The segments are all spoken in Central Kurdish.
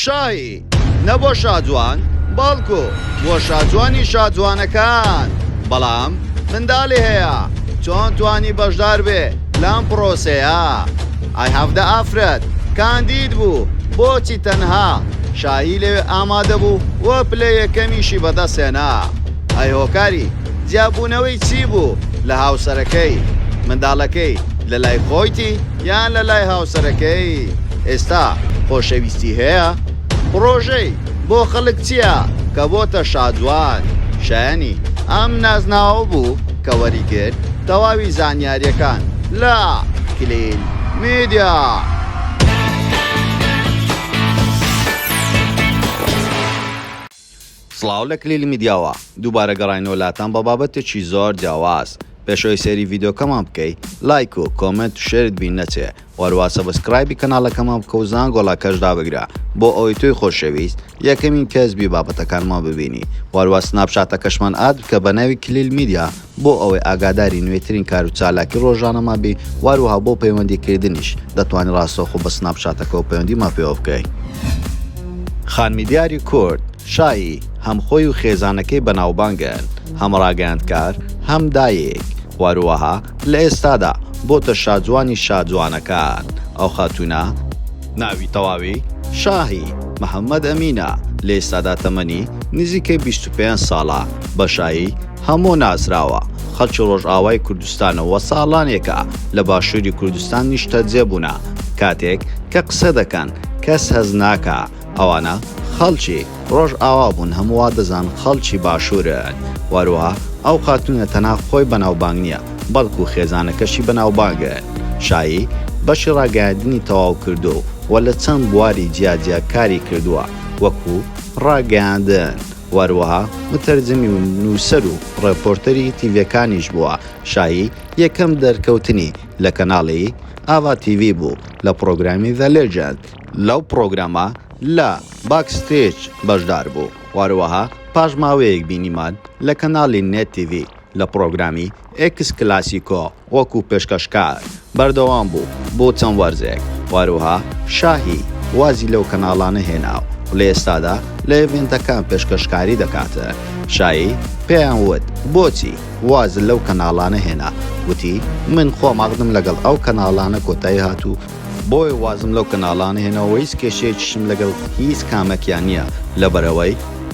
شاهی، نە بۆ شاجوان، بەڵکو بۆ شاجوانی شاجوانەکان. بەڵام منداڵی هەیە، چۆن توانی بەشدار بێ لەم پڕۆسەیە؟ ئای هەڤدە ئافرەت کاندید بوو، بۆچی تەنها شاهی لەوێ ئامادە بوو و پلە یەکەمیشی بەدەستهێنا؟ ئای هۆکاری جیابوونەوەی چی بوو لە هاوسەرەکەی؟ منداڵەکەی لەلای خۆیتی؟ یان لەلای هاوسەرەکەی ئێستا خۆشەویستی هەیە؟ پڕۆژەی بۆ خەڵک چییە کە بۆتە شادوان شایەنی ئەم نازناوە بوو کە وەریگرت تەواوی زانیاریەکان لە کلیل میدیا. سڵاو لە کلیلی میدیاوە دووبارە گەڕاینەوە لاتان بە بابەتێکی زۆر جیاواز پێش ئەوەی سەیری ڤیدۆکەمان بکەی لایک و کۆمێنت و شێرت بین نەچێ وەروا سەبسکرایبی کەناڵەکەمان بکە و زانگۆڵەکەش دابگرە بۆ ئەوەی تۆی خۆشەویست یەکەمین کەس بی بابەتەکانمان ببینی وەروا سناپچاتەکەشمان ئاد بکە بە ناوی کلیل میدیا بۆ ئەوەی ئاگاداری نوێترین کار و چالاکی ڕۆژانەمان بی واروها بۆ پەیوەندی کردنیش دەتوانی ڕاستەوخۆ بە سناپ چاتەکەوە پەیوەندی مان پێوە بکەی. خانمی دیاری کورد شایی هەم خۆی و خێزانەکەی بەناوبانگن هەم ڕاگەیاندکار هەم دایک واروها لە ئێستادا بۆتە شاجوانی شاجوانەکان ئەو خاتوونە، ناوی تەواوی، شاهی محمد امین، ە لە ئێستادا تەمەنی نزیکەی بیست و پێنج ساڵە بە شایی، هەموو ناسراوە خەڵکی ڕۆژئاوای کوردستانە و ساڵانێکە لە باشووری کوردستان نیشتەجێ بوونە، کاتێک کە قسە دەکەن کەس هەست ناکا ئەوانە خەڵکی ڕۆژئاوا بوون هەموو وا دەزان خەڵکی باشوورن، وەروەها ئەو خاتوونە تەنها خۆی بەناوبانگ نییە بەڵکوو خێزانەکەشی بەناوبانگن شایی بەشی ڕاگەیاندنی تەواو کردوو و لە چەند بواری جیا جیا کاری کردووە وەکوو ڕاگەیاندن. وەروەها متەرجمی و نووسەر و ڕێپۆرتەری تیڤێکانیش بووە، شایی یەکەم دەرکەوتنی لە کەناڵی، ئاڤا تیڤی، بوو لە پڕۆگرامی The Legend، لەو پڕۆگرامە لە، باک ستێج، بەشدار بوو، وەروەها پاش ماوەیەک بینیمان لە کەناڵی، نێت تیڤی، لە پڕۆگرامی، ئێکس کلاسیکۆ، وەکو پێشکەشکار بەردەوام بوو بۆ چەند وەرزێک و هەروەها شاهی وازی لەو کەناڵانە هێنا و لە ئێستادا لە ئێڤێنتەکان پێشکەشکاری دەکات. شاهی پێیان وت بۆچی وازت لەو کەناڵانە هێنا؟ وتی من خۆم عەقدم لەگەڵ ئەو کەناڵانە کۆتایی هات و بۆیە وازم لەو کەناڵانە هێناو وەیس کێشەیەکیشم لەگەڵ هیچ کامەکیان نیە لەبەرئەوەی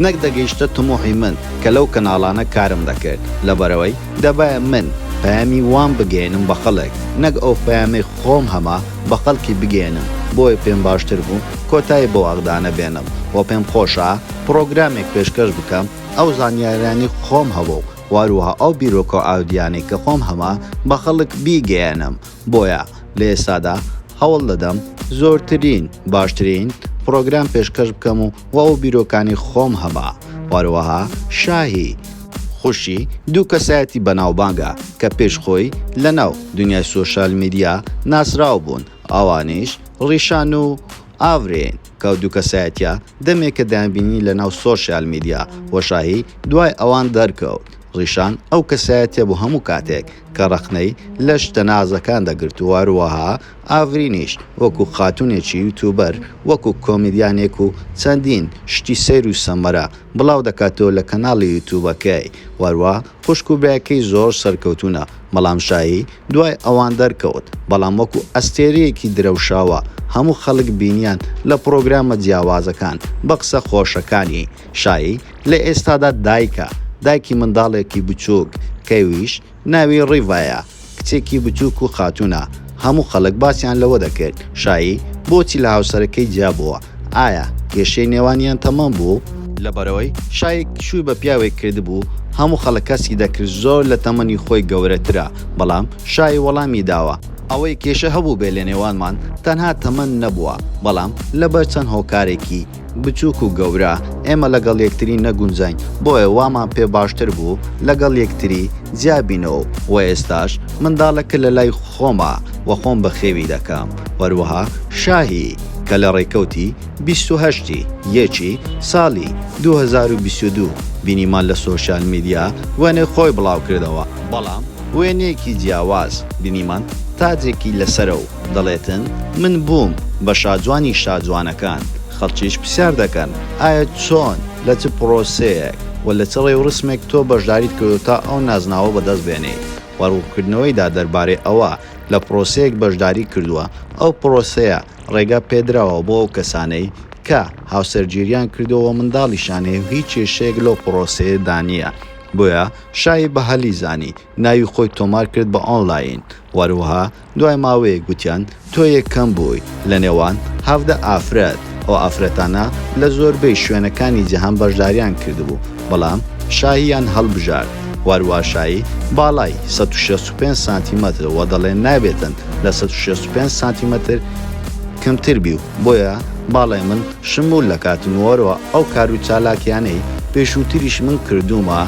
نەک دەگەیشتە تموحی من کە لەو کەناڵانە کارم دەکرد لەبەرئەوەی دەبایە من پەیامی وام بگەیەنم بە خەڵک نەک ئەو پەیامەی خۆم هەمە بە خەڵکی بگەیەنم بۆیە پێم باشتر بوو کۆتایی بەو ئەقدانە بێنم وە پێم خۆشە پڕۆگرامێک پێشکەش بکەم ئەو زانیاریانەی خۆم هەبوو وەهەروەها ئەو بیرۆکەو ئاودیانەی کە خۆم هەمە بە خەڵک بیگەیەنم بۆیە لە ئێستادا هەوڵ دەدەم زۆرترین باشترین پڕۆگرام پێشکەش بکەم و وا و بیرۆکانی خۆم هەبا وەروەها شاهی خوشی دوو کەسایەتی بەناوبانگە کە پێش خۆی لە ناو دنیای سۆشیال میدیا ناسراو بوون ئەوانیش ڕیشان و ئاڤرین کە ئەو دوو کەسایەتیە دەمێکە دەیانبینی لە ناو سۆشیال میدیا و شاهی دوای ئەوان دەرکەوت ڕیشان ئەو کەسایەتیە بوو هەموو کاتێک کە ڕەخنەی لە شتە نازەکان دەگرت و هەروەها ئاڤرینیش وەکو خاتونێکی یوتوبەر وەکو کۆمیدیانێک و چەندین شتی سەیر و سەمەرە بڵاو دەکاتەوە لە کەناڵی یوتوبەکەی و خوشک و برایەکەی زۆر سەرکەوتوونە، بەڵام شایی دوای ئەوان دەرکەوت، بەڵام وەکو ئەستێرەیەکی درەوشاوە، هەموو خەڵک بینیان لە پڕۆگرامە جیاوازەکان، بە قسە خۆشەکانی، شایی لە ئێستادا دایکە، دایکی منداڵێکی بچووک، کەویش ناوی ڕیڤایە، کچێکی بچووک و خاتوونە، هەموو خەڵک باسیان لەوە دەکرد، شایی، بۆچی لە هاوسەرەکەی جیا بووە؟ ئایا کێشەی نێوانیان تەمەم بوو؟ لەبەرئەوەی شایی شووی بە پیاوێک کردبوو، هەموو خەڵک هەستی دەکرد زۆر لە تەمەنی خۆی گەورەترە، بەڵام شایی وەڵامی داوە، ئەوەی کێشە هەبووبێت لە نێوانمان تەنها تەمەن نەبووە، بەڵام لەبەر چەند هۆکارێکی. بچوک و گەورە، ئێمە لەگەڵ یەکتری نەگونجاین، بۆیە وامان پێ باشتر بوو لەگەڵ یەکتری جیا بینەوە و ئێستاش منداڵەکە لە لای خۆمە و خۆم بەخێوی دەکەم. هەروەها شاهی، کە لە ڕێکەوتی بیست و هەشت ی یەکی ساڵی دوو هەزار و بیست و دوو بینیمان لە سۆشیال میدیا وێنەی خۆی بڵاوکردەوە، بەڵام وێنەیەکی جیاواز بینیمان تاجێکی لەسەرە و دەڵێتن من بووم بە شاجوانی شاجوانەکان، خەڵکیش پرسیار دەکەن ئایا چۆن، لە چ پرۆسەیەک و لە چ ڕێوڕسمێک تۆ بەشداریت کردووە تا ئەو نازناوە بەدەست بێنیت و ڕوونکردنەوەیدا دەربارەی ئەوە لە پرۆسەیەک بەشداری کردووە ئەو پرۆسەیە ڕێگا پێدراوە بۆ ئەو کەسانەی کە هاوسەرگیریان کردووە و منداڵیشیان هەیە و هیچ کێشەیەک لەو پرۆسەیەدا نییە بۆیە شای بەهەلی زانی ناوی خۆی تۆمار کرد بە ئۆنلاین وەروەها دوای ماوەیەک گوتیان تۆیەک کەم بووی لە نێوان هەڤدە ئافرەت، ئەو ئافرەتانە لە زۆربەی شوێنەکانی جیهان بەشداریان کردبوو، بەڵام شاهییان هەڵبژارد، واروا شاهی باڵای سەد و شەست و پێنج سانتیمەترە و دەڵێن نابێتن لە سەد و شەست و پێنج سانتیمەتر کەمتر بی و بۆیە باڵای من شموول دەکاتن و واروا ئەو کار و چالاکییانەی پێشووتریش من کردوومە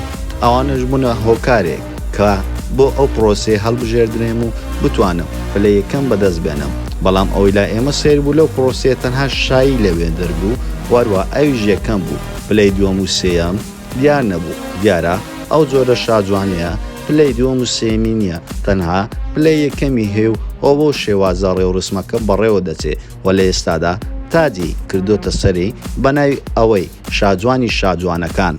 ئەوانەش بوونە هۆکارێک کە بۆ ئەو پرۆسەیە هەڵبژێردرێم و بتوانم پلە یەکەم بەدەست بێنم بەڵام ئەوەی لا ئێمە سەیر بوو لەو پرۆسەیە تەنها شایی لەوێ دەربوو وەروە ئەویش یەکەم بوو پلەی دووەم و سێیەم دیار نەبوو دیارە ئەو جۆرە شاجوانەیە پلەی دووەم و سێمی نییە تەنها پلە یەکەمی هەیە و ئەو بۆ شێوازە ڕێوڕسمەکە بەڕێوە دەچێ و لە ئێستادا تاجی کردۆتە سەری بە ناوی ئەوەی شاجوانی شاجوانەکان.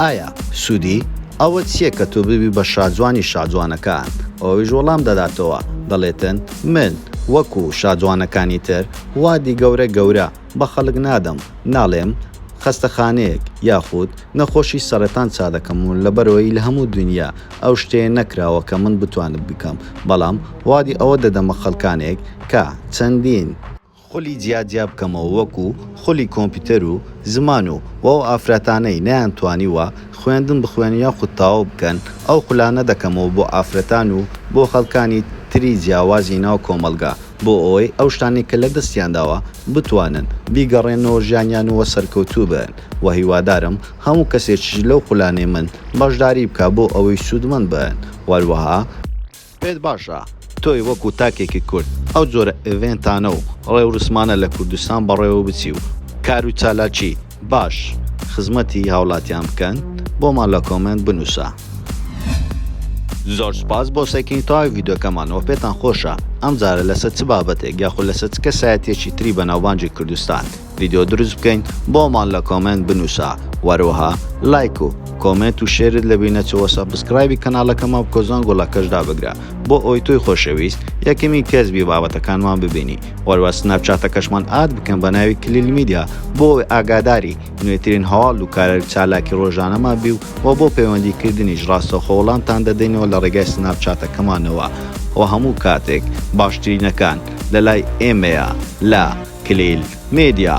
ئایا سوودی ئەوە چییە کە تۆ ببی بە شاجوانی شاجوانەکان؟ ئەویش وەڵام دەداتەوە، دەڵێتن، من وەکو شاجوانەکانی تر وادی گەورە گەورە بە خەڵک نادەم، ناڵێم خەستەخانەیەک یاخود نەخۆشی سەرەتان چادەکەم و لەبەرئەوەی لە هەموو دونیا ئەو شتەیە نەکراوە کە من بتوانم بیکەم، بەڵام وادی ئەوە دەدەمە خەڵکانێک کە چەندین. خولی جیا جیا بکەمەوە وەکو خولی کۆمپیوتەر و زمان و و ئەو ئافراتانەی نەیان توانیوە خوێندن بخوێنن یاخود تەواو بکەن ئەو خولانە دەکەمەوە بۆ ئافرەتان و بۆ خەڵکانی تری جیاوازی ناو کۆمەڵگا بۆ ئەوەی ئەو شتانەی کە لە دەستیان داوە بتوانن بیگەڕێننەوە ژیانیان و وە سەرکەوتوو بن وە هیوادارم هەموو کەسێکیش لەو خولانەی من بەشداری بکا بۆ ئەوەی سوودمەند بن وەروەها پێت باشە تۆی وەکو تاکێکی کورد ئەو جۆرە ئێڤێنتانە و ڕێورسمانە لە کوردستان بەڕێوە بچی و کارو چالاکی باش خزمەتی هاوڵاتیان بکەن؟ بۆمان لە کۆمێنت بنوسە. زۆر سوپاس بۆ سەیکردنی تەواوی ڤیدیۆکەمان وە پێتان خۆشە ئەمجارە لەسەر چ بابەتێک یاخود لەسەر چ کەسایەتیەکی تری بەناوبانگی کوردستان ڤیدیۆ دروست بکەین بۆمان لە کۆمێنت بنوسە وەروەها لایک و کۆمێنت و شێرت لە بینەچەوە سەبسکرایبی کەناڵەکەمان بکە زەنگۆڵەکەش دابگرە بۆ ئەوەی تۆی خۆشەویست یەکەمین کەس بی بابەتەکانمان ببینی وەروە سناپچاتەکەشمان ئاد بکەن بە ناوی کلیل میدیا بۆ ئەوەی ئاگاداری نوێترین هەواڵ و کارە چالاکی ڕۆژانەمان بی و وە بۆ پەیوەندیکردنیش ڕاستەوخۆ وەڵامتان دەدەینەوە لە ڕێگای سناپچاتەکەمانەوە و هەموو کاتێک باشترینەکان لەلای ئێمەیە لە کلیل میدیا.